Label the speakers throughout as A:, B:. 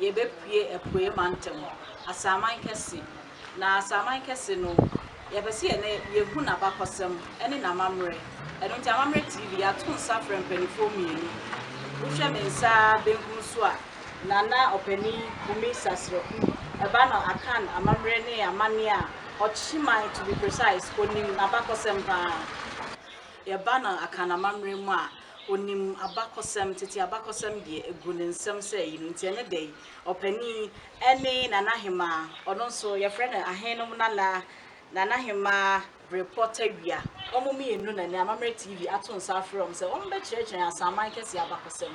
A: Yɛbɛpue Apueeɛ Mantam Asaman Kɛse, na Asaman Kɛse no, yɛpɛ sɛ yɛn yɛhu n'abakɔsɛm ne n'amammerɛ. Ɛno nti Amammerɛ TV yɛato nsa afrɛ mpanimfoɔ mmienu. Wohwɛ me nsa benkum so a, Nana Ɔpanin Kumi Sasraku, ɛba no Akan amammerɛ ne amanneɛ a Ɔkyeman to be precise, ɔnim n'abakɔsɛm pa ara. Yɛba no Akan amammerɛ mu a, Ɔnim abakɔsɛm, tete abakɔsɛm deɛ, ɛgu ne nsam sɛ ayi no nti, ɛne dɛn? Ɔpanin, Ɛne Nanahemaa, ɔno nso, yɛfrɛ no Ahenom Nana, Nanahemaa Brepɔ Tawia. Wɔn mmienu na ɛnnɛ Amammerɛ TV ato nsa afrɛ wɔn sɛ wɔmmɛkyerɛkyerɛ yɛn Asanman Kɛseɛ abakɔsɛm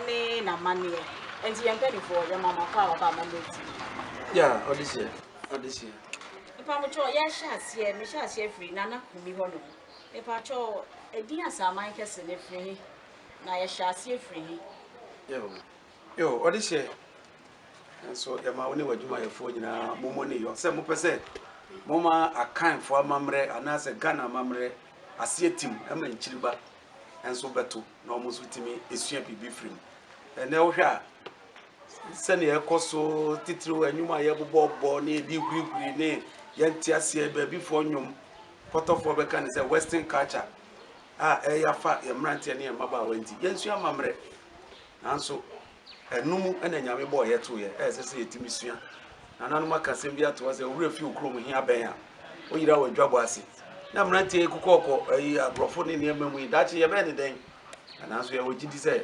A: ne n'amanneɛ. Ɛnti, yɛn mpanimfoɔ, yɛma mo akɔ a wɔaba Amammerɛ TV. Yeah, ɔde
B: hyɛ, ɔde hyɛ. Mpamokyɛw,
A: yɛrehyɛ aseɛ, mehyɛ aseɛ firi Nana Kumi hɔnom. Mepakyɛw, edin Asaman Kɛse
B: no, efiri he? Na yɛhyɛɛ aseɛ firi he? Yeo, yeo, ɔde hyɛɛ. Nanso yɛma wo ne w'adwumayɛfoɔ nyinaa mommɔ ne yɔ sɛ mopɛ sɛ moma Akanfoɔ amammerɛ anaasɛ Ghana amammerɛ aseɛ tim ma nkyiriba nso bɛto na wɔn nso tumi sua biribi firi mu. Ɛnɛ wohwɛ a sɛnea ɛkɔ so titiriw nnwom a yɛbobɔbɔ ne yɛde hurihuri ne yɛnte aseɛ baabifoɔ nnwom Pɔtɔfoɔ bɛka no sɛ western culture a ɛreyɛ afa yɛn mmeranteɛ ne yɛn mmabaawa nti, yɛnsua amammerɛ. Nanso ɛno mu na Nyame bɔɔ yɛ too yɛ, a ɛsɛ sɛ yɛtumi sua. Nananom aka asɛm bi ato hɔ sɛ, owura fi wo kurom he abɛn a, woyera wɔ adwabɔ ase. Na mmeranteɛ yi kokɔɔkɔ ayi agorɔfo ne nneɛma mu yi, daakye yɛbɛyɛ ne dɛn? Nanso yɛwɔ gyidi sɛ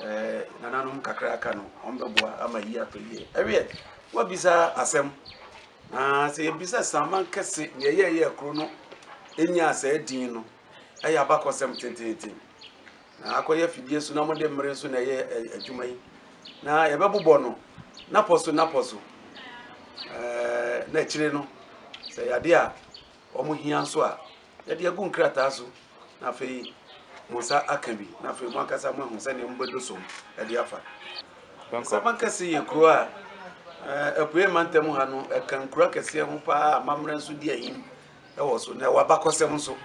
B: eh, nananom kakra aka no, wɔn bɛboa ama yi atɔ yie. Ɛweɛ, woabisa asɛm, Na sɛ yɛbisa saa aman kɛse nea ɛyɛ a ɛyɛɛ kuro no nyaa saa din no, ɛyɛ abakɔsɛm tenteenten. Na akɔyɛ afidie so na mode mmere nso na ɛyɛ adwuma yi. Na yɛbɛbobɔ no napɔ so napɔ so. Na akyire no, sɛ yɛade a wɔhia nso a, Yɛde agu nkrataa so, na afei mo nsa aka bi, na afei mo ankasa mo ahu sɛdeɛ mobɛdo so de afa. Nsɛmma kɛse yɛ kuro a eh, apuei mantam ha no ɛka nkuro akɛseɛ ho paa a mammerɛ nso di ahim wɔ so na ɛwɔ abakɔsɛm nso.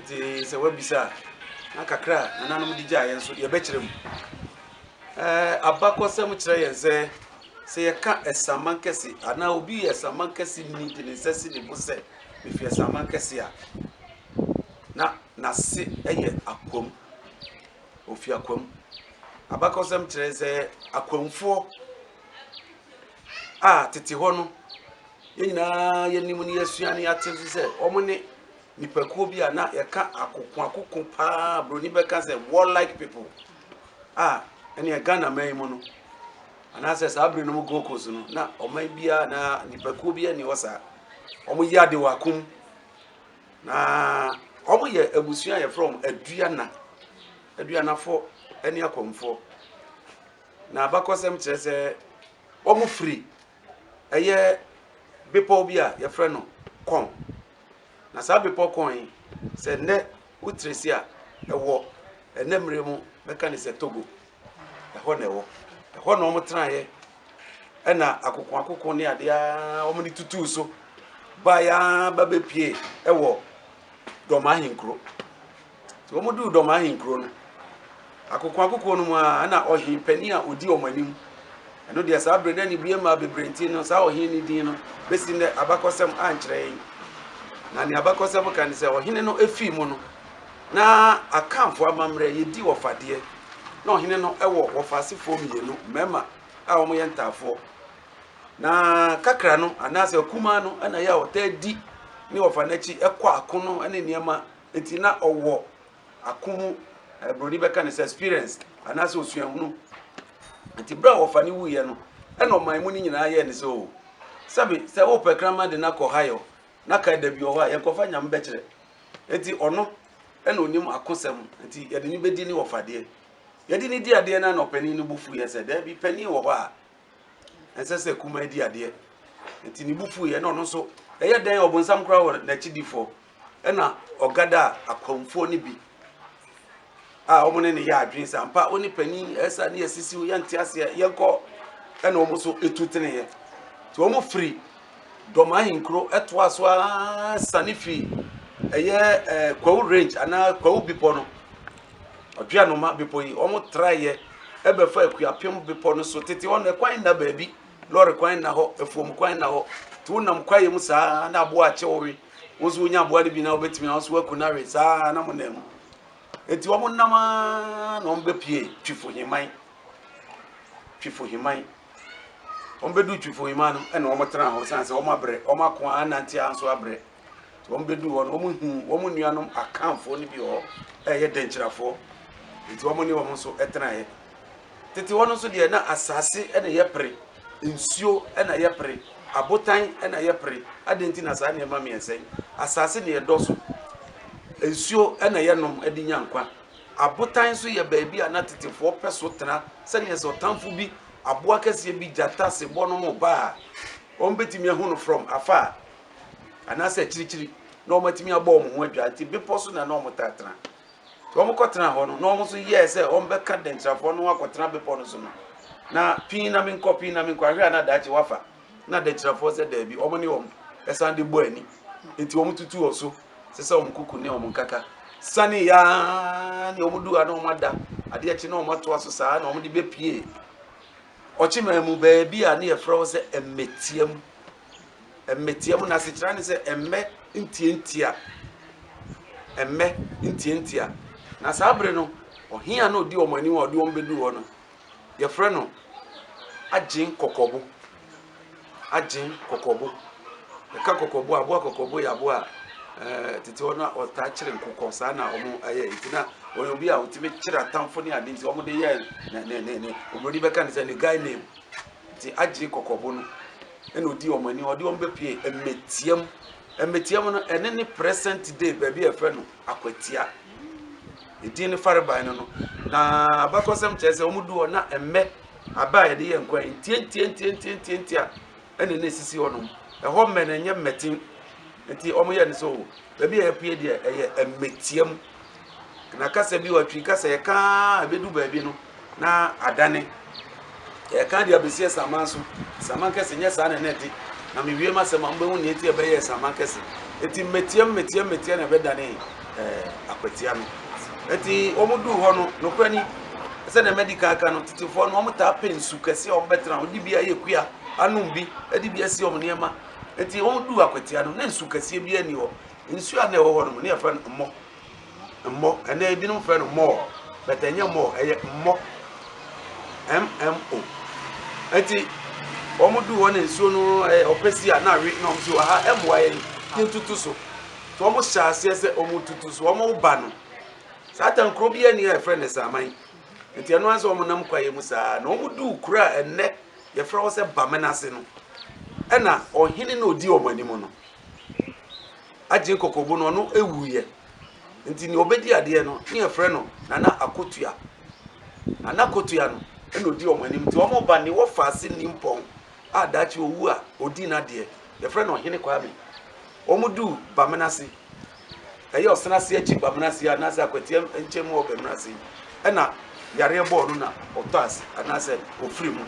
B: Nti sɛ wabisa a, na kakra a nananom de gyaeɛ nso yɛbɛkyerɛ mu. Eh, abakɔsɛm kyerɛ yɛn sɛ sɛ yɛka asaman kɛse anaa obi yɛ asaman kɛse ni de ne nsa si ne bo sɛ Mifii asaman kɛse a na n'ase yɛ akwam. Ofi akwam. Abakɔsɛm kyerɛ sɛ akwamfoɔ a tete hɔ no yɛn nyinaa yɛnim ne yɛasua ne yɛate nso sɛ wɔn ne nipakuo bi a na yɛka akoko akoko paa buroni bɛka sɛ warlike people a ɛne ghana man mu no Anaasɛ saa bere no mu Gold Coast no, na ɔman biara anaa nnipakuo biara nni hɔ saa. Wɔyɛ ade wɔ ako mu. Na wɔyɛ abusua a yɛfrɛ wɔn aduana, aduanafoɔ ne akɔmfoɔ. Na abakɔsɛm kyerɛ sɛ wɔfiri ɛyɛ bepɔw bi a yɛfrɛ no Kɔn. Na saa bepɔw Kɔn yi, sɛ nnɛ wotresi a ɛwɔ ɛnɛ mmere mu bɛka ne sɛ Togo. ɛhɔ na ɛwɔ ɛhɔ na wɔn tenaeɛ ɛna akoko akoko ne adeɛ ara wɔn de tutuu so baeɛ ara ba bɛpie ɛwɔ dɔm ahenkuro nti wɔn duu dɔm ahenkuro no akoko akoko no mu a ɛna ɔhen panin a ɔdi wɔn anim ɛno deɛ saa berɛ na ne bie maa bebree nti no saa ɔhen ne din no bɛsi nnɛ abakɔsɛm ankyerɛ yɛn na ne abakɔsɛm ka ne sɛ ɔhene no efii mu no Na Akanfoɔ amammerɛ, yɛdi wɔfadeɛ. Na ɔhene no wɔ wɔfaasefoɔ mmienu, mmarima a wɔyɛ ntaafoɔ. Na kakra no, anaasɛ akumaa no, na yɛ a ɔtaa di ne wɔfa no akyi kɔ ako no ne nneɛma. Nti na ɔwɔ ako mu, eh, buroni bɛka ne sɛ experience anaasɛ osuahunu. Nti berɛ a wɔfa no wuiɛ no, ɛna ɔman mu no nyinaa yɛɛ ne sɛ o, sɛbe sɛ wopɛ kraman de no akɔ hayɔ na ka da bi wɔ hɔ a yɛnkɔfa nyame bɛkyerɛ Enti ɔno na onim akosɛm nti yɛde no bɛdi ne ɔfadeɛ. Yɛde no di adeɛ no na ɔpanin no bo fuiɛ sɛ, daabi, panin wɔ hɔ a ɛnsɛ sɛ kumaa di adeɛ. Nti ne bo fuiɛ na ɔno nso ɛyɛ dɛn ɔbonsam koraa wɔ n'akyidifoɔ ɛna ɔgada a akwamfoɔ no bi a wɔn ne no yɛ adwene sɛ ampa wo ne panin ɛsa ne yɛsisiw yɛnte aseɛ yɛnkɔ ɛna wɔn nso ɛtu teneeɛ nti wɔn firi dɔm ahenkuro ɛtoa so ara sane firi ɛyɛ ɛɛ kwawu range anaa kwawu bepɔ no ɔdwe anoma bepɔ yi wɔn traeɛ ɛbɛfa akuapem bepɔ no so tete hɔ no ɛkwan nna baabi lɔre kwan nna hɔ afuom kwan nna hɔ nti wonam kwaeɛ mu saa na aboa akyɛ wɔwe wɔn nso wonya aboa no bi na wɔbɛtumi ahosuo aku no awe saa na mo nam Enti wɔnam ara na wɔbɛpue Twifo Heman. Twifo Heman. Wɔbɛdu Twifo Heman no ɛna wɔtena hɔ sane sɛ wɔabrɛ, wɔn ako anante ara nso abrɛ. Nti wɔbɛdu hɔ no, wɔhu wɔn nuanom akanfoɔ no bi wɔ hɔ a ɛyɛ dɛnkyirafoɔ. Nti wɔn ne wɔn nso ɛtenaeɛ. Tete hɔ no nso deɛ na asase na ɛyɛ pere. Nsuo na yɛpere, abotan na yɛpere. Adɛn nti na saa nneɛma mmiɛnsa yi? Asase na yɛdɔ so. Nsuo na yɛnom de nya nkwa. Abotan nso yɛ baabi a na tetefoɔ pɛ so tena sɛdeɛ sɛ ɔtamfo bi, aboa kɛseɛ bi, gyata, sebɔ nom reba a, wɔbɛtumi ahu no from afar anaasɛ akyirikyiri na wɔatumi abɔ wɔn ho adwaa. Nti bepɔ so na na wɔtaa tena. Nti wɔkɔtenaa hɔ no, na wɔn nso yɛɛ sɛ wɔbɛka Dɛnkyirafoɔ no ho akɔtena bepɔ no so no, na pii na menkɔ, pii na menkɔ, ahwɛ a na daakye wafa. Na Dɛnkyirafoɔ sɛ daabi, wɔn ne wɔn ɛsan de bɔ ani. Nti wɔn tutu wɔ so, sɛ sɛ wɔn kuku ne wɔn nkaka. Sane yaa ne wɔn du ha na wɔn ada, adeɛ kye na wɔn atoa so saa na wɔn de bɛpie. Ɔkyemaa mu baabi a ne yɛfrɛ hɔ sɛ Mmɛtia mu. Mmɛtia mu, n'asekyerɛ ne sɛ mmɛ ntiantia, mmɛ ntiantia. Na saa bere no, ɔhea no odi wɔn anim a ɔde wɔn bɛduu hɔ no, yɛfrɛ no agyen kɔkɔbo. Agyen kɔkɔbo. Ɛka kɔkɔbo a, aboa kɔkɔbo yɛ aboa a Eh, tete hɔ no ɔtaa kyerɛ nkokɔ saa na wɔn ayɛ nti na wɔn obi a wɔtumi kyerɛ atamfo ne ade nti wɔn de yɛ ne ne ne ne oburoni bɛka ne sɛ ne guy name nti agye kɔkɔbo no ɛna ɔdi wɔn ani ɔde wɔn bɛpue mmɛtia mu mmɛtia mu no ɛne ne present day baabi a ɛfrɛ no akwatia ɛdin ne farebae no no na abakɔsɛm kyerɛ sɛ wɔn du hɔ na mmɛ aba a yɛde yɛ nkwa yi ntiantiantiantiantia ɛne ne sisi hɔ nom ɛhɔ mmɛ no ɛnyɛ mmɛten nti wɔn yɛ no sɛ o baabi a yɛpue deɛ ɛyɛ mmɛtia mu Na kasa bi wɔ Twi kasa yɛka a ɛbɛdu baabi no na adane. Yɛka de abɛsi asaman so. Asaman kɛse nyɛ saa na ɛna ɛte. Na mewie m'asɛm a mobɛhu nea ɛti ɛbɛyɛ asaman kɛse. Ɛti mmetia mmetia mmetia na ɛbɛdane eh, akwatia no. Ɛti wɔn duu hɔ no, nokorɛ ni, sɛdeɛ madi kan aka no, tetefoɔ no wɔn taa pɛ nsu kɛse a wɔn bɛtena, wɔn de bi ayɛ kua, anom bi, de bi asi wɔn nneɛma. Ɛti wɔn duu akwatia no, na nsu kɛseɛ biara ni hɔ. Nsuo a na ɛwɔ hɔ nom na yɛfrɛ no mmɔ, mmɔ, ɛnɛ ebinom frɛ no mɔɔ but ɛnyɛ mɔɔ ɛyɛ mmɔ, MMO. Enti wɔn duu hɔ na nsuo no ɛyɛ ɔpɛsi a na awe na wɔn si wɔ ha ɛmmoa yɛn yɛntutu so. Nti wɔn hyɛ aseɛ sɛ wɔn tutu so, wɔn ba no. Saa tan kuro bi ani a yɛfrɛ no Saaman. Nti ɛno ara sɛ wɔn nam kwaeɛ mu saa na wɔn duu kuro a ɛnɛ yɛfrɛ hɔ sɛ Bamena ase no ɛna ɔhene na ɔdi wɔn anim no. agye kɔkɔbo no ɔno wuiɛ nti nea ɔbɛdi adeɛ no ne yɛfrɛ no Nana Akotua Nana Akotua no ɛna ɔdi wɔn anim nti wɔn ba ne wɔfa ase ni mpɔn a daakye ɔwu a ɔdi n'adeɛ yɛfrɛ no Ɔhene Kwame wɔn du Bamena ase Ɛyɛ ɔsene ase akyi bamena ase anaasɛ akwatia nkyɛn mu wɔ bamena ase yi ɛna yareɛ bɔɔ no na ɔtɔ ase anaasɛ ɔfiri mu.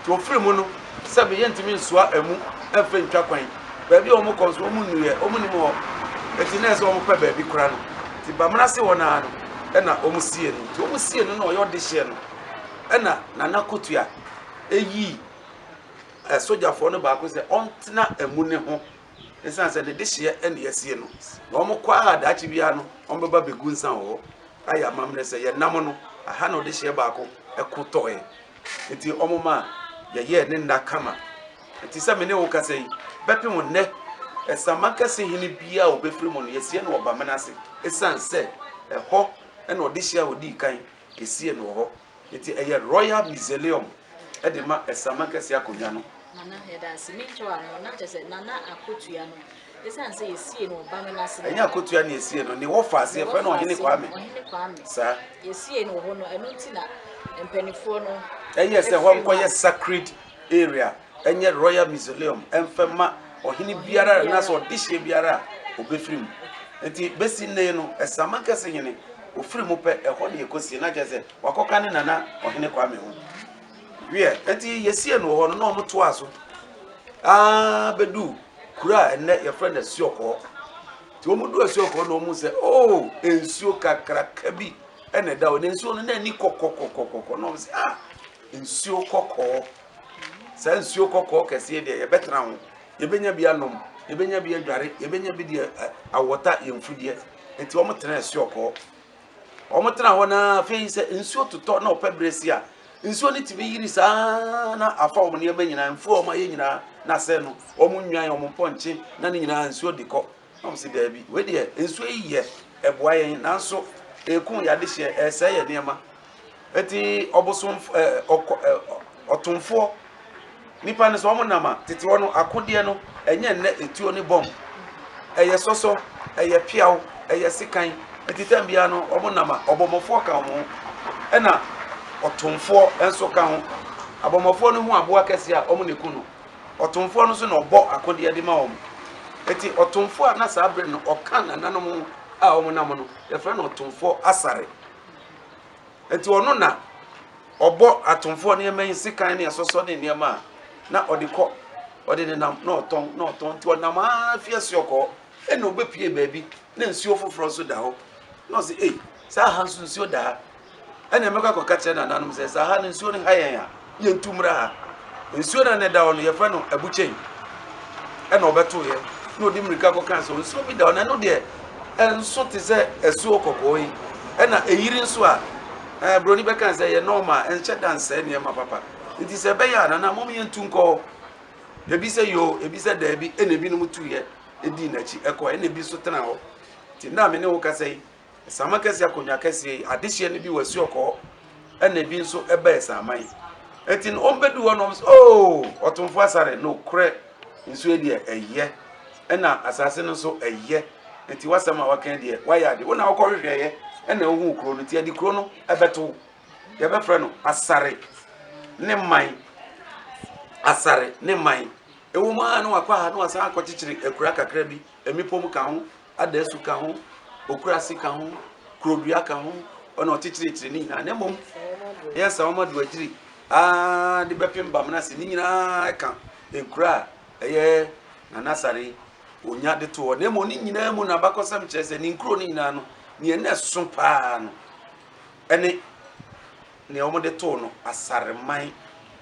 B: Nti ɔfiri mu no sɛ me yɛntumi nsoa ɛmu ɛmfa ntwa kwan. Baabi a wɔkɔ nso wɔn nnuiɛ wɔn nim hɔ. Nti na ɛsɛ wɔn pɛ baabi kora no. Nti bamena ase hɔ naa no ɛna wɔn sie no. Nti wɔn sie no na ɔyɛ ɔde hyeɛ no ɛna nana kotua ɛyii ɛsogyafoɔ no baako sɛ ɔntena ɛmu ne ho Esiane sɛ n'adehyeɛ na yɛasie no, na wɔkɔ ara a, daakye biara no, wɔbɛba abɛgu nsa wɔ hɔ ayɛ amammerɛ sɛ, 'Yɛn nam no, aha na ɔdehyeɛ baako ko tɔeɛ. Enti wɔma yɛyɛɛ ne nna kama. Enti sɛ me ne wo kasa yi, bɛpem nnɛ, Samakɛse hene biara a ɔbɛfiri mu no, yɛasie no wɔ Bamena ase. Esiane sɛ ɛhɔ na ɔdehyeɛ a ɔdii kan Esie no wɔ hɔ. Enti ɛyɛ Royal Museleum de ma Ɛsaman Kɛseɛ Akonnwa no. Nana, yɛda ase.
A: Me nkyɛw ano no, na kyerɛ sɛ Nana Akotua no, esiane sɛ yɛsiee no wɔ Bame no ase no. Ɛnyɛ Akotua na yɛsiee
B: no. Ne wɔfa ase, yɛfrɛ no Ɔhene Kwame. Ɔhene Kwame. Saa. Yɛsiee no wɔ hɔ
A: no, ɛno nti na mpanimfoɔ no. Ɛyɛɛ sɛ hɔ nkɔyɛ
B: sacred area nyɛ royal mausoleum mfa mma ɔhene biara anaasɛ ɔdehyeɛ biara a ɔbɛfiri mu. Nti bɛsi nnɛ yi no, Ɛsaman Kɛse hene, ɔfiri mu pɛ, ɛhɔ na yɛkɔsie no, na kyerɛ sɛ wakɔka ne nana ɔhene Kwame ho. Wiɛ, nti yɛsiee no wɔ hɔ no na wɔn toaa so aa bɛdu kuro a ɛnnɛ yɛfrɛ no Asuɔkɔɔ. Nti wɔn du Asuɔkɔɔ na wɔn sɛ oo oh, nsuo kakraka bi ɛna ɛda hɔ na nsuo no na ani kɔkɔkɔkɔkɔ na wɔn sɛ ah Nsuo kɔkɔɔ, saa nsuo kɔkɔɔ kɛseɛ deɛ yɛbɛtena ho, yɛbɛnya bi anom, yɛbɛnya bi adware, yɛbɛnya bi deɛ awɔta yɛn mfudeɛ. Nti wɔn tena nsuo kɔɔ. Wɔn tena hɔ naa afei sɛ nsuo totɔ na ɔpɛ berɛ si a, nsuo no tumi yiri saa na afa wɔn nneɛma nyinaa, mfuo a wɔayɛ nyinaa na asɛe no. Wɔn nnwan, wɔn mpɔnkye na ne nyinaa nsuo de kɔ. Na wɔsi, Daabi, wei deɛ nsuo yi yɛ, ɛboa yɛn, nanso ɛrekum yɛn adehyeɛ, ɛresɛe yɛn nneɛma. Enti ɔbosomf ɛ ɔkɔ ɛ ɔtomfoɔ, nnipa no sɛ wɔnam a, tete hɔ no, akodeɛ no, ɛnyɛ nnɛ etuo ne bɔmb. Ɛyɛ sɔsɔ, ɛyɛ peaw, ɛyɛ sekan. Enti tɛm biara no, wɔnam a, ɔbɔmmɔfoɔ ka wɔn ho, ɛnna ɔtomfoɔ nso ka ho. Abɔmmɔfoɔ no hu aboa kɛseɛ a, wɔde ku no. Ɔtomfoɔ no nso na ɔbɔ akodeɛ de ma wɔn. Enti ɔtomfoɔ a na saa berɛ no ɔka nananom ho a wɔnam no, yɛfrɛ no ɔtomfoɔ Asare. Enti ɔno na ɔbɔ atomfoɔ nneɛma yi, sekan ne ɛsɔsɔ ne nneɛma a na ɔde kɔ, ɔde nenam na ɔtɔn na ɔtɔn. Nti ɔnam ara fi asuo kɔɔ, ɛnna ɔbɛpue baabi na nsuo foforɔ nso da hɔ. Na ɔse, ei, sɛ aha nso nsuo da ha. Ɛnna mɛkɔ akɔka akyerɛ nananom sɛ, 'Saa ha no, nsuo no ha yɛn a, yɛntu mmra ha. Nsuo no a na ɛda hɔ no, yɛfrɛ no Abukyɛn. Ɛnna ɔbɛtoeɛ, na ɔde mmirika kɔkaa sɛ, 'Nsuo bi da hɔ, na ɛno deɛ, ɛnso te sɛ asuo kɔkɔɔ yi. Ɛnna ɛyiri nso a, ɛɛ, buroni bɛkaa sɛ, 'Ɛyɛ nɔɔma, ɛnhyɛ da nsɛe nneɛma papa. Enti sɛ ɛbɛyɛ a, nana, mom yɛntu nkɔ hɔ. Ebi sɛ yoo, ebi sɛ daabi, ɛnna ebinom tuiɛ dii n'akyi kɔe, ɛnna ebi nso tenaa hɔ. Enti nna a me ne wo kasa yi, Saman kɛseɛ akonnwa kɛseɛ yi adehyeɛ no bi wɔ asuo kɔɔ ɛna ebi nso ɛbɛɛ saman eti no wɔn bɛdu hɔ na wɔn sɛ oo ɔtomfo asare na okorɛ nsuo deɛ ɛyɛ ɛna asase no nso ɛyɛ eti wasɛm a waka deɛ wayɛ ade wɔn na wɔkɔ hwehwɛ yɛ ɛna ohun kuro no ti ɛde kuro no ɛbɛto yɛbɛfrɛ no asare ne man asare ne man ewu mu ara na wakɔ aha na wasan akɔkyekyere akura kakra bi mmepɔ mu ka ho Adasu ka ho, okurase ka ho, kurodua ka ho, ɔna ɔkyekyerekyere ne nyinaa. Na mmom, ɛyɛ saa wɔma do agyiri aa de bɛpem bam no ase. Ne nyinaa ɛka nkura a ɛyɛ Nana Sare onya de to hɔ. Na mmom, ne nyinaa mu no abakɔsɛm kyerɛ sɛ ne nkuro no nyinaa no, nea na ɛso paa no ɛne nea wɔde too no Asareman.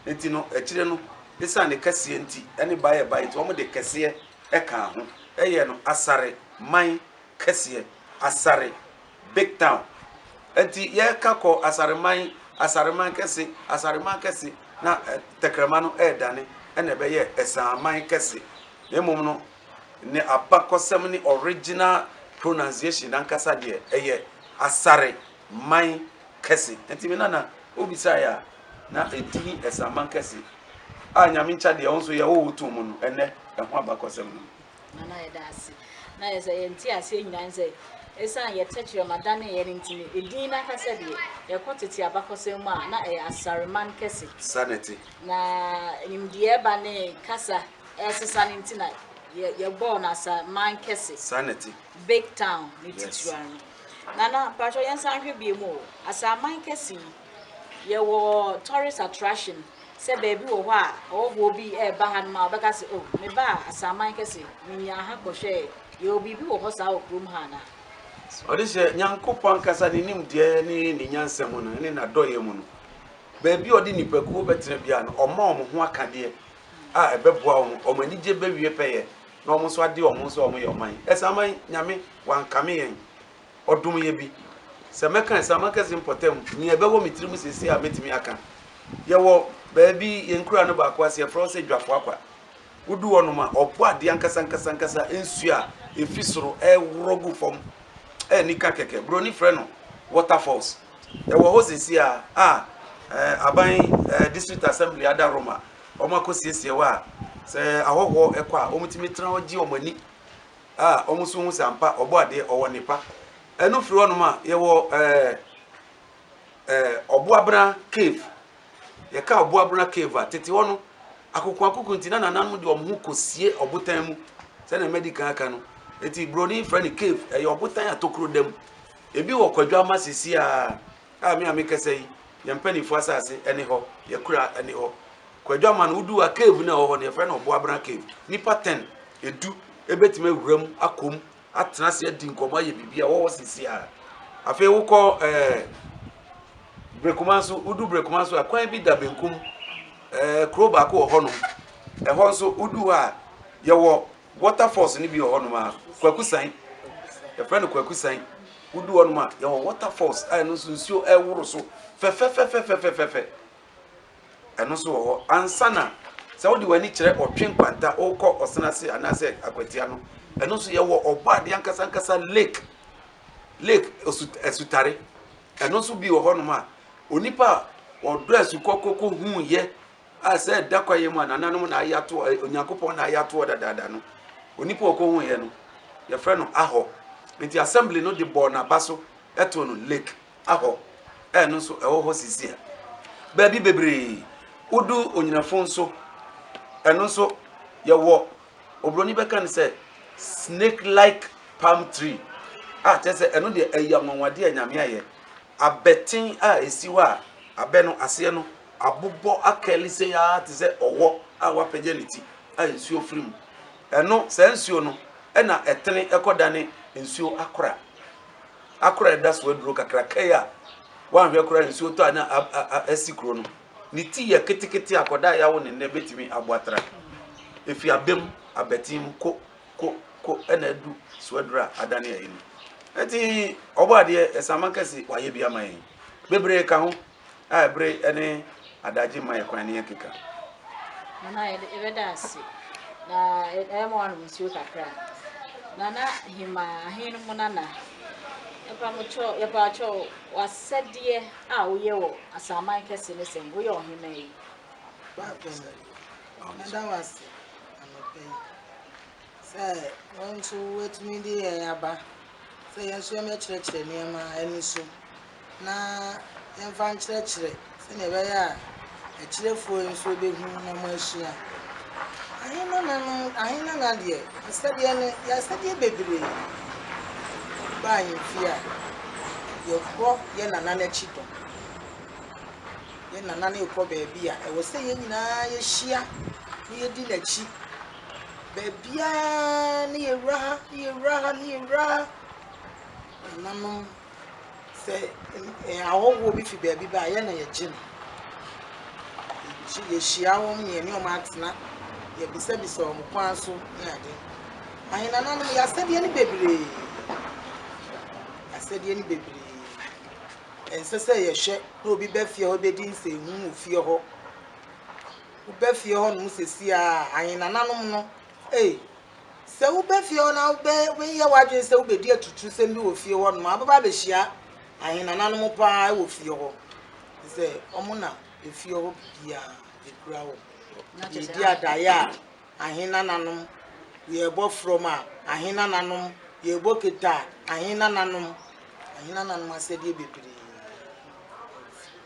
B: Nti no, akyire no, esiane ne kɛseɛ nti, ɛne baeɛ baeɛ nti, wɔde kɛseɛ ɛkaa ho, ɛyɛ no asare, man, kɛseɛ, asare, big town, ɛnti yɛka kɔ asare man, asare man kɛse, asare man kɛse, na tɛkrɛma no ɛɛdane ɛna ɛbɛyɛ ɛsaa man kɛse, na mmom no ne abakɔsɛm ne original pronunciation ankasa deɛ ɛyɛ asare man kɛse. Enti me nana, wobisae a, na edin Asaman Kɛse, a Nyame nkyɛ deɛ wo nso yɛ wowoo too mu no, ɛnnɛ ɛho abakɔsɛm no. Nana yɛda ase.
A: Na yɛ sɛ yɛn ti aseɛ nyinaa ne sɛ ɛsiane yɛ tɛkyerɛma daneeɛ no nti no, edin no ankasa deɛ, yɛkɔ tete abakɔsɛm mu a, na ɛyɛ Asareman Kɛse. Saa na ɛte. Na nimdeɛ reba ne kasa resesa no nti na yɛ, yɛbɔɔ no Asaman Kɛse. Saa na ɛte. Big
B: Town
A: ne titiriw ano. Nana mpakyɛw yɛnsan nhwɛ biom o, Asaman kɛse yi yɛwɔ tourist attraction sɛ baabi wɔ hɔ a ɔwɔfoɔ bi ɛɛba ha nom a ɔbɛka sɛ oh mebaa Asaman kɛse menyaa ha kɔhwɛɛ yɛwɔ biribi wɔ hɔ saa wɔ kurom ha anaa? Ɔde hyɛ
B: Nyankopɔn ankasa ne nimdeɛ ne ne nyansa mu no ne n'adɔeɛ mu no, baabi a ɔde nnipakuo bɛtena biara no, ɔma wɔn ho akadeɛ a ɛbɛboa wɔn, wɔn anigye bɛwie pɛyɛ, na wɔn nso ade wɔn ho sɛ wɔyɛ ɔman. Asaman Nyame. Wankame yɛn, ɔdom yɛ bi. Sɛ mɛka ɛsɛ a, mɛka ɛsɛ mpɔtam. Nea ɛbɛwɔ me tirim seesei a mɛtumi aka. Yɛwɔ baabi, yɛn nkuraa no baako ase, yɛfrɛ hɔ sɛ Dwafoakwa. Wodu hɔnom a, ɔpo adeɛ ankasa ankasa ankasa, nsuo a ɛfi soro ɛreworɔ gu fam a ani ka kɛkɛ. Buroni frɛ no waterfalls. Ɛwɔ hɔ seesei a, a ɛɛ aban ɛɛ district assembly ada hɔ ma wɔakɔsiesie hɔ a, sɛ ahɔhoɔ kɔ a, wɔtumi tena hɔ gye wɔn ani. a wɔn nso hu sɛ ampa ɔbɔ adeɛ ɔwɔ nnepa ɛno firi hɔnom a yɛwɔ ɛɛ ɛɛ ɔboabena cave yɛka ɔboabena cave a tete hɔ no akokoakoko nti na nananom de wɔn ho kɔsie ɔbotan mu sɛdeɛ madi kan aka no nti buroni frɛ no cave ɛyɛ ɔbotan a tokuro da mu ebi wɔ kwadwa ama sisi a a me a mekasa yi yɛn mpanimfoɔ asase ɛne hɔ yɛkura ɛne hɔ kwadwo ama no wodu a cave no ɛwɔ hɔ no yɛfrɛ no ɔboabena cave nipa ten edu ebetumi awura mu akɔm atena ase adi nkɔmɔ ayɛ biribi a wɔwɔ sisi a afei wokɔ ɛɛ brekuma nso wodu brekuma nso a kwan bi da benkum ɛɛ kuro baako wɔ hɔnom ɛhɔ nso wodu hɔ a yɛwɔ Water falls no bi wɔ hɔnom a kwakusan yɛfrɛ no kwakusan wodu hɔnom a yɛwɔ water falls a ɛno nso nsuo ɛworo so fɛfɛfɛfɛfɛfɛfɛ ɛno nso wɔ hɔ ansa na sɛ wode w'ani kyerɛ ɔtwe nkwanta wokɔ ɔsena ase anaasɛ akwatia no ɛno nso yɛwɔ ɔbɔ adeɛ ankasa ankasa lake lake asutare ɛno nso bi wɔ hɔnom a onipa a ɔdɔ asukɔ kɔkɔ hu yɛ a sɛ ɛda kwaeɛ mu a nananom na ayɛ ato eh, onyankopɔn na ayɛ atoɔ dadaada no onipa a ɔkɔhuiɛ no yɛfrɛ no ahɔ nti assembly no de bɔɔ n'aba so ɛtoo no lake ahɔ ɛno nso ɛwɔ hɔ sisi a baabi bebree wodu onyinafo nso ɛno nso yɛwɔ oburoni bɛka no sɛ snake like palm tree a kyerɛ sɛ ɛno deɛ ɛyɛ anwanwadeɛ a nyame ayɛ abɛten a ɛsi hɔ a abɛ no aseɛ no abobɔ akali sei ara te sɛ ɔwɔ a wɔapagya ne ti a nsuo firi mu. Ɛno, saa nsuo no na ɛtene kɔdane nsuo akora. Akora a ɛda so aduro kakraka yi a woanhwɛ koraa nsuo tɔ a na asi kuro no, ne ti yɛ ketekete a kɔdaa yawo ne nnɛ bɛtumi abɔ atra. Ɛfiri abam, abati mu, ko, ko, ko na adu so aduro a adane ayi no. Ɛnti Ɔbɔadeɛ, Asaman Kɛse, wayɛ bi ama yɛn. Bebree ka ho. a bere ne adagye mma yɛn kwan na yɛnkeka. Nana,
A: yɛbɛda ase na ɛma wanom nsuo kakra. Nana Hema, ahe no mu nana, yɛpakyɛ w'asɛdeɛ a woyɛ wɔ asaman kɛse ne sɛn, woyɛ ɔhema yi.
C: Meda wo ase anɔpa yi sɛ wo nso woatumi de yɛn aba sɛ yɛn nso yɛmmɛkyerɛkyerɛ nneɛma ani so. na yɛmfa nkyerɛkyerɛ sɛnea ɛbɛyɛ a akyirefo yi nso behu na wɔahyia. Ahenana no ahenana deɛ asɛdeɛ no yɛ asɛdeɛ bebree ba ahemfie a yɛkɔ yɛ nana no akyi dɔm yɛ nana no rekɔ baabi a ɛwɔ sɛ yɛn nyinaa yɛhyia na yɛdi n'akyi baabiara ne yɛwura ha ne yɛwura ha ne yɛwura ha nananom Sɛ ahɔhoɔ bi fi baabi ba a, yɛn na yɛgye no. Yɛhyia wɔn na yɛne wɔn atena, yɛbisabisa wɔn kwan so ne ade. Ahenana no, yɛ asɛdeɛ no bebree. Asɛdeɛ no bebree. Ɛnsɛ sɛ yɛhwɛ na obi bɛ fie hɔ bɛdi nsɛnhu wɔ fie hɔ. Wobɛ fie hɔ nom sɛsi a ahenananom no, ee, Sɛ woba fie hɔ na wobɛyɛ w'adwene sɛ wobɛdi atuturusɛm bi wɔ fie hɔnom a, wobɛba abɛhyia ahenananom pa ara wɔ fie hɔ. Te sɛ wɔn na efie hɔ biribiara ekura wɔn. Yɛredi adaeɛ a, ahenananom, yɛrebɔ frɔm a, ahenananom, yɛrebɔ kete a, ahenananom, ahenananom asɛdeɛ bebree.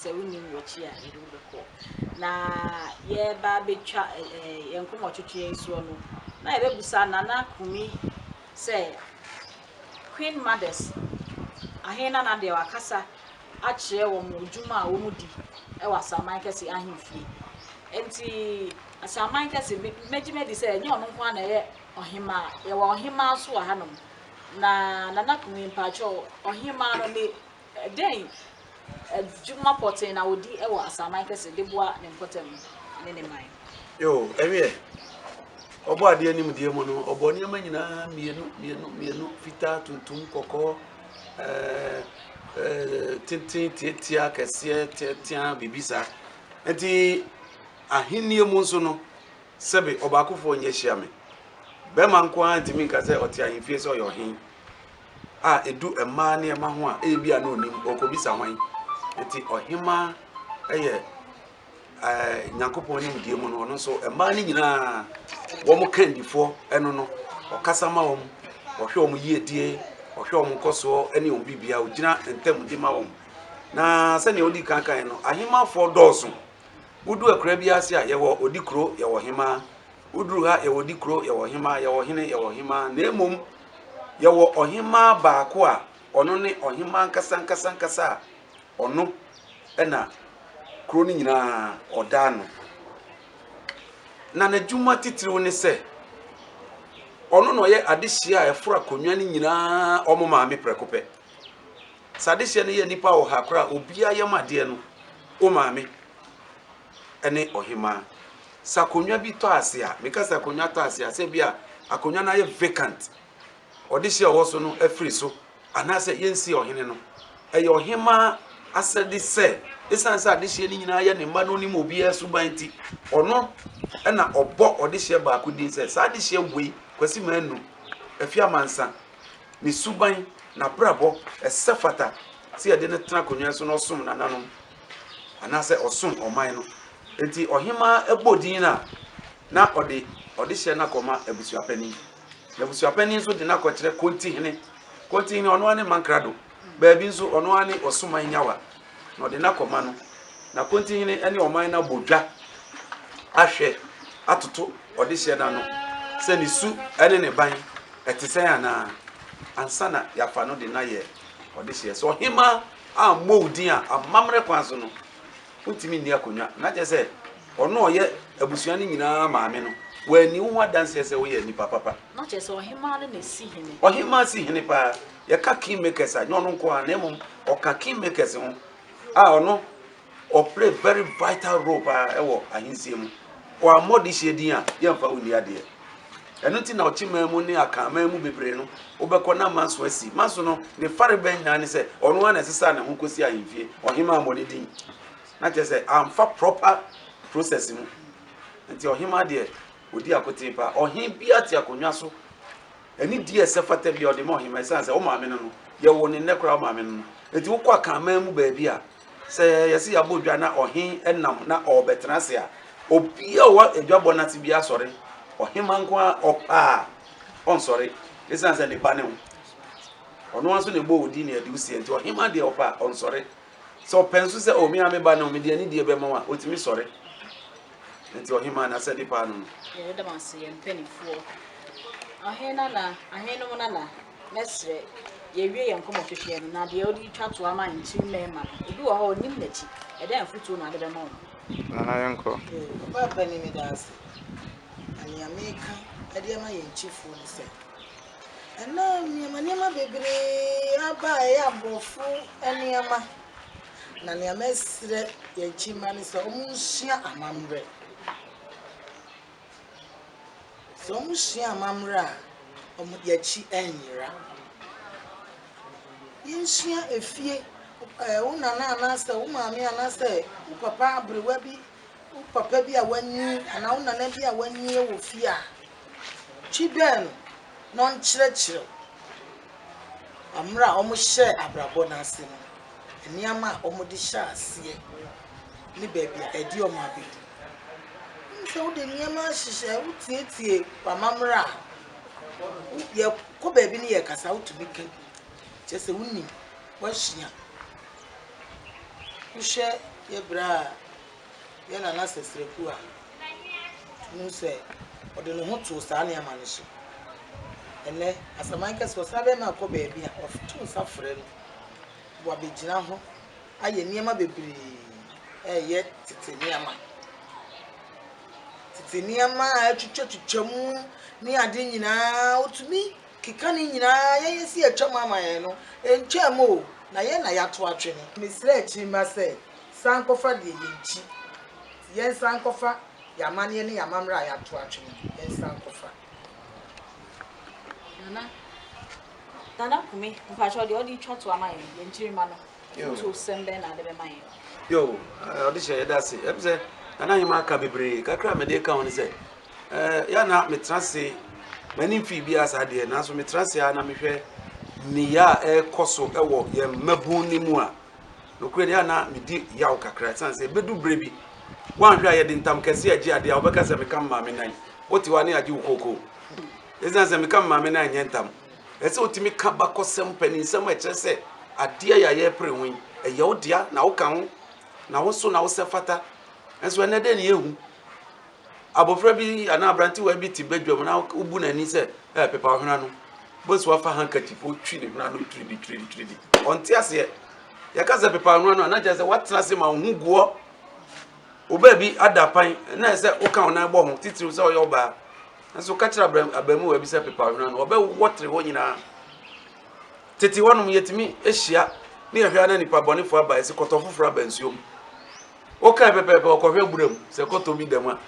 A: sɛ wonim wɔkyi a yɛde wo bɛkɔ. Na yɛreba abɛtwa ɛɛ yɛn nkɔmɔtwetweɛ yi soɔ no, na yɛbɛbusa Nana Kumi sɛ Queen Mothers ahe na na deɛ wakasa akyerɛ wɔn adwuma a wɔdi wɔ Asaman Kɛse ahemfie. Nti Asaman Kɛse me mɛgye madi sɛ ɛnyɛ ɔno nko ara na ɛyɛ ɔhemaa, yɛwɔ ɔhemaa nso wɔ hanom. Na Nana Kumi mpakyɛw ɔhemaa no ne Dɛn adwuma pɔtee na odi wɔ asaman kɛse de boa ne mpɔtam ne ne man? Yo, ɛwieɛ.
B: Ɔbɔ adeɛ nimdeɛ mu no, ɔbɔ nneɛma nyinaa mmienu mmienu mmienu, fitaa, tuntum, kɔkɔɔ, tenten, tiatia, kɛseɛ, teatea, biribi saa. Nti ahennie mu nso no, sɛbe ɔbaakofoɔ nyɛ hyia me. Bɛrima nko ara ntumi nka sɛ ɔte ahemfie sɛ ɔyɛ ɔhene. a edu mmaa nneɛma ho a ebi a na onim ɔkɔbisa hwan nti ɔhemaa yɛ ɛɛ nyankopɔn ne mdie mu no ɔno nso mmaa no nyinaa wɔn kandifoɔ ɛno no ɔkasa ma wɔn ɔhwɛ wɔn yiedie ɔhwɛ wɔn nkɔsoɔ ɛne wɔn bibia ɔgyina ntam de ma wɔn na sɛnea ɔdi kankan no ahemafoɔ dɔɔso wodu akura bi ase a yɛwɔ ɔdi kuro yɛwɔ hemaa woduru ha yɛwɔ di kuro yɛwɔ hemaa yɛwɔ hene yɛwɔ hemaa na mmom Yɛwɔ ɔhemmaa baako a ɔno ne ɔhemmaa ankasa ankasa ankasa a ɔno na kuro no nyinaa ɔda ano. Na n'adwuma titiriw ne sɛ ɔno na ɔyɛ adehyeɛ a ɛforo akonnwa no nyinaa wɔn maame prɛko pɛ. Sɛ adehyeɛ no yɛ nnipa ɔha koraa a, obiara yam adeɛ no, wo maame. ne ɔhemaa. Sɛ akonnwa bi tɔ ase a, meka sɛ akonnwa tɔ ase a, sɛ bi a akonnwa no ayɛ vacant, ɔdehye a ɔwɔ so no afiri so, anaasɛ yɛnsi ɔhene no. Ɛyɛ ɔhemaa asɛde sɛ, ɛsiane sɛ adehyeɛ no nyinaa yɛ ne mma na ɔnim obiara suban nti, ɔno na ɔbɔ ɔdehyeɛ baako din sɛ, saa adehyeɛ wei, Kwasi Manu, Afie Amansa, ne suban, n'abrabɔ, ɛsɛ fata sɛ yɛde no tena akonnwa so na ɔsom nananom. anaasɛ ɔsom ɔman no. Enti ɔhemmaa bɔ din no a, na ɔde ɔdehyɛ no akɔma abusuapanin. Na abusuapanin nso de no akɔkyerɛ kontihene. Kontihene ɔno ara ne mankrado, baabi nso ɔno ara ne ɔsoman nyawa. Na ɔde no akɔma no. Na kontihene ne ɔman no abɔ dwa ahwɛ atoto ɔdehyɛ no ano sɛ ne su ne ne ban ɛte sɛn anaa ansa na yɛafa no de no ayɛ ɔdehyeɛ. So ɔhemmaa ammɔ wo din a, amammerɛ kwan so no, wontumi nni akonnwa. Na kyerɛ sɛ, ɔno a ɔyɛ abusua no nyinaa maame no, wanni wo ho adanseɛ sɛ woyɛ nipa papa. Na kyerɛ
A: sɛ, ɔhemaa no na ɛsi hene. Ɔhemaa si hene paa.
B: Yɛka kingmakers a, nyɛ ɔno nko ara, na mmom ɔka kingmakers ho a ɔno Ɔ play very vital role paa ɛwɔ ahensie mu. Ɔ ammɔ dehyeɛ din a, yɛ nfa wo nni adeɛ. Ɛno nti na ɔkye man mu ne Akan man mu bebree no, wo bɛkɔ na Manso asi. Manso no, ne fare bɛn nyinaa ne sɛ, ɔno ara na ɛsesaa ne ho kɔsi ahemfie. Ɔhemaa ammɔ ne din. Na kyerɛ sɛ, amfa proper process mu. Nti ɔhemaa deɛ, ɔdi akotee paa. Ɔhen biara te akonnwa so. Ɛne di a ɛsɛ fata biara, ɔde ma ɔhemaa. Ɛsiane sɛ, wo maame no no, yɛwoo no nnɛ koraa, wo maame no no. Nti wokɔ Akan man mu baabi a, Sɛ yɛse yɛabɔ dwa na ɔhen nam na ɔɔbɛtena ase a, obia a ɔwɔ adwabɔ no ase biaa sɔre, ɔhemma nko ara ɔpɛ a ɔnsɔre, esiane sɛ ne ba ne ho, ɔno ara nso na ɛbɔɔ odin ne adewusiɛ nti ɔhemma deɛ ɔpɛ a ɔnsɔre. Sɛ ɔpɛ nso sɛ o me ara me ba ne ho, mede anidie bɛma wo a, ɔtumi sɔre. Nti ɔhemma n'asɛde paa no no. Yɛda mo ase, yɛn
A: mpanimfoɔ. Ɔhen nana, ahenom nana. Mɛsrɛ, yɛwie yɛn nkɔmmɔhwehwɛ no, na deɛ wode retwa toa ma nkyiri mmarima no, obi wɔ hɔ a ɔnim n'akyi. Ɛdɛn afotuo na wode bɛma wɔn? Nana, yɛnkɔ.
D: Yoo, papa panin, meda
C: ase. Na nea mereka de ama yɛn nkyifoɔ ne sɛ, ɛnnɛ nneɛma nneɛma bebree aba a ɛyɛ aborɔfo nneɛma, na nea mɛsrɛ yɛn nkyi mma ne sɛ wɔnsua amammerɛ. Sɛ wɔsua amambra a, wɔn akyi nnyera. Yensua efie, ɛɛ wo nana anaasɛ wo maame anaasɛ wo papa aberewa bi, wo papa bi a wanyin anaa wo nana bi a wanyin wɔ fie a, twi dɛ no na ɔnkyerɛkyerɛ wo ambra a wɔhyɛɛ abrabɔ no ase no, nneɛma a wɔde hyɛɛ aseɛ ne baabi a ɛde wɔn abedu. Wohu sɛ wode nneɛma ahyehyɛ, wotietie w'amammerɛ a, yɛkɔ baabi ne yɛkasa a, wotumi ka bi. Kyerɛ sɛ wonim, woasua. Wohwɛ yɛ bra a, yɛ Nana Sɛsrɛku a, wohu sɛ ɔde ne ho too saa nneɛma no so. Ɛnnɛ, asaman kɛse, ɔsan bɛma ɛkɔ baabi a, ɔto nsa frɛ no, wabɛgyina ho. ayɛ nneɛma bebree reyɛ tete nneɛma. Tete nneɛma a atwitwatwitwa mu ne ade nyinaa, wotumi keka ne nyinaa yɛ yɛ si atwam ama yɛn no, ɛntwaam o, na yɛn na yɛato atwene. Mesrɛ akyirimmra sɛ, san nkɔfa deɛ yɛakyi. Yɛnsan nkɔfa yɛn amanneɛ ne yɛn amammerɛ a yɛato atwene no, yɛnsan nkɔfa. Nana,
A: Nana Kumi, mpakyɛw, deɛ ɔde retwa to ama yɛn, yɛn kyiri mma no. Ntoosɛm bɛn na ade bɛma yɛn?
B: Yo, ɔde hyɛ yɛda ase. Ɛm sɛ ɛna nyɛma aka bebree. Kakra a mede ka ho ne sɛ, yɛ na metra ase m'ani mfii bi a saa deɛ nanso metra ase a na mehwɛ nneyɛ a ɛrekɔ so wɔ yɛn mmabun no mu a nokorɛ deɛ na medi yaw kakra ɛsiane sɛ ɛbɛdu berɛ bi woanhwɛ a yɛde ntam kɛse agye adeɛ a wobɛka sɛ meka mmaame nan wote hɔ a ne agye wo kookoo ɛsiane sɛ meka mmaame nan nyɛ ntam Ɛsɛ sɛ wotumi ka bakɔsɛm mpanyinsɛm a ɛkyerɛ sɛ adeɛ yi a yɛrepere ho yi, ɛyɛ wo dea na woka ho na wo so na wo sɛ fata. Nso ɛnɛ dɛn ne yɛhu? Abɔfra bi anaa aberantewa bi te badwam na wobu n'ani sɛ ɛɛ pepa ɔhena no. Bosu afa handkerchief otwi ne hwena no twiridi twiridi twiridi. Ɔnte aseɛ. Yɛka sɛ pepa ɔhena no a na kyerɛ sɛ woatena ase ma wo ho gu hɔ. Wo baabi ada pan na ɛsɛ woka wo nan bɔ ho titiriw sɛ ɔyɛ ɔbaa. Nanso ka kyerɛ abram, abaamua bi sɛ pepaw hwene ano, ɔbɛwɔ tere hɔ nyinaa. Tete hɔnom yɛtumi hyia ne yɛhwɛ na nipa bɔnefo aba ɛsɛ kɔtɔ foforɔ aba nsuo mu. Wokae pɛpɛɛpɛ ɔkɔhwɛ abura mu sɛ kɔtɔ bi da mu a.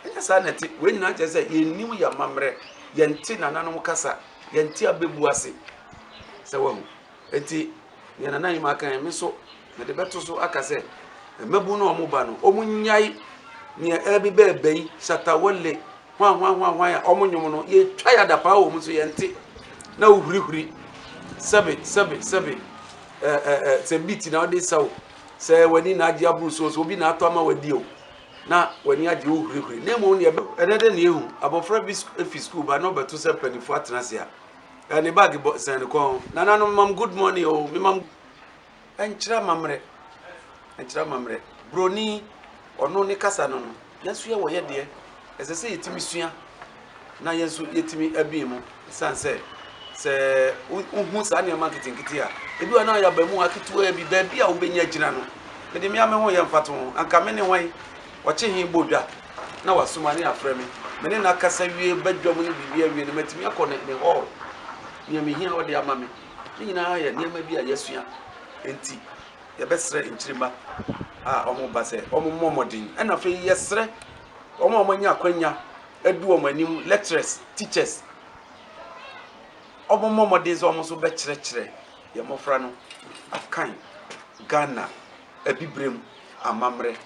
B: Ɛnyɛ saa na ɛte. Wei nyinaa kyerɛ sɛ yɛnnim yɛn amammerɛ, yɛnte nananom kasa, yɛnte abebu ase sɛ wahu. Enti, nea Nana Nyima kae, me nso mede bɛto so aka sɛ, mmabun no a wɔba no, wɔnnyae nea ɛreba ba ɛba yi, Shatta Wale, hwan hwan hwan hwan a wɔn nnwom no, yɛtwa yɛ adapaa wɔ mu nso yɛnte, na wohurihuri, sɛbe, sɛbe, sɛbe, ɛɛ, ɛɛ, ɛɛ, sɛ beat na wode sa o, sɛ w'ani na agye aboro so o, sɛ obi na atɔ ama w'adi o, na w'ani agye wohurihuri. Na mmom nea ɛbɛ. Ɛnnɛ dɛn na yɛhu? Abɔfra bi fi sukuu ba na ɔbɛto sɛ mpanyimfo atena ase a, Ɛɛ ne bag bɔ sɛn ne kɔn. Nananom mam good morning o me mam ɛnkyerɛ amammerɛ ɛnkyerɛ amammerɛ broni ɔno ne kasa no no nanso yɛ wɔyɛ deɛ ɛsɛ sɛ yɛtumi sua na yɛn nso yɛtumi abie mu san sɛ sɛ wohu saa nneɛma nketenkete a ebi wɔ na yɛaba mu aketewa bi baabi a wobɛnya gyina no mede mmea me ho yɛ mfato ho anka me ne hwan ɔkye he bɔ dwa na wasoma ne afrɛ me. Me ne no akasa wie, badwam ne biribi awie no, matumi akɔ ne ne hɔɔl. Nea mehia ɔde ama me. Ne nyinaa yɛ nneɛma bi a yɛasua. Enti yɛbɛsrɛ nkyirimma a wɔba sɛ wɔmmɔ mmɔden. Ɛna afei yɛsrɛ wɔn a wɔanya akwanya adu wɔn anim, lecturers, teachers, wɔmmɔ mmɔden sɛ wɔn nso bɛkyerɛkyerɛ yɛn mmɔfra no akan Ghana abibirem amammerɛ.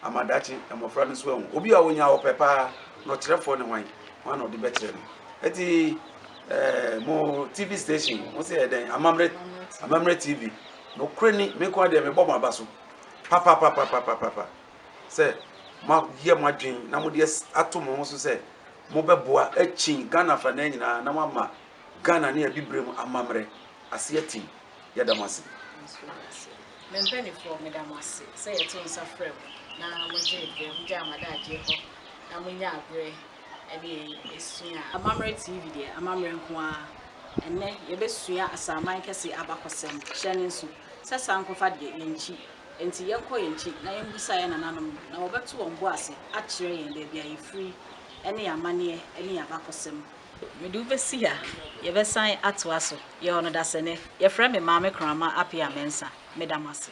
B: ama daakye mmofra no nso ahu. Obi a onya ɔpɛ paa na ɔkyerɛfoɔ ne hwan? Hwan na ɔde bɛkyerɛ no? Eti eh, mo TV station, mo sɛ yɛ dɛn? Amammerɛ, Amammerɛ TV. Nokorɛ ni, me nko ara deɛ mebɔ mo aba so papapapapapapa sɛ moayɛ mo adwene na mode ato mo ho so sɛ mobɛboa akyin Ghana afanan nyinaa na moama Ghana ne Abibirem amammerɛ ase atim. yɛda mo ase.
A: Me mpaninfoɔ meda mo ase sɛ yɛto nsa frɛ mo na mogyee berɛ mogyaa mo adagyeɛ hɔ na monyaa berɛ ɛne yɛn ɛsua Amammerɛ TV deɛ amammerɛ nko ara ɛnnɛ yɛbɛsua asaman kɛse abakɔsɛm hyɛ ne nso sɛ sankɔfa deɛ yɛnkyi ɛnti yɛnkɔ yɛnkyi na yɛnbusa yɛn nananom na wɔbɛto wɔn bo ase akyerɛ yɛn baabi a yɛfiri ɛne yɛn amanneɛ ɛne yɛn abakɔsɛm Mede wo bɛsi ha. Yɛbɛsan atoa so. Yɛwɔ no dasani. Yɛfrɛ me Maame Kraman Appiah-Mensah. Meda mo ase.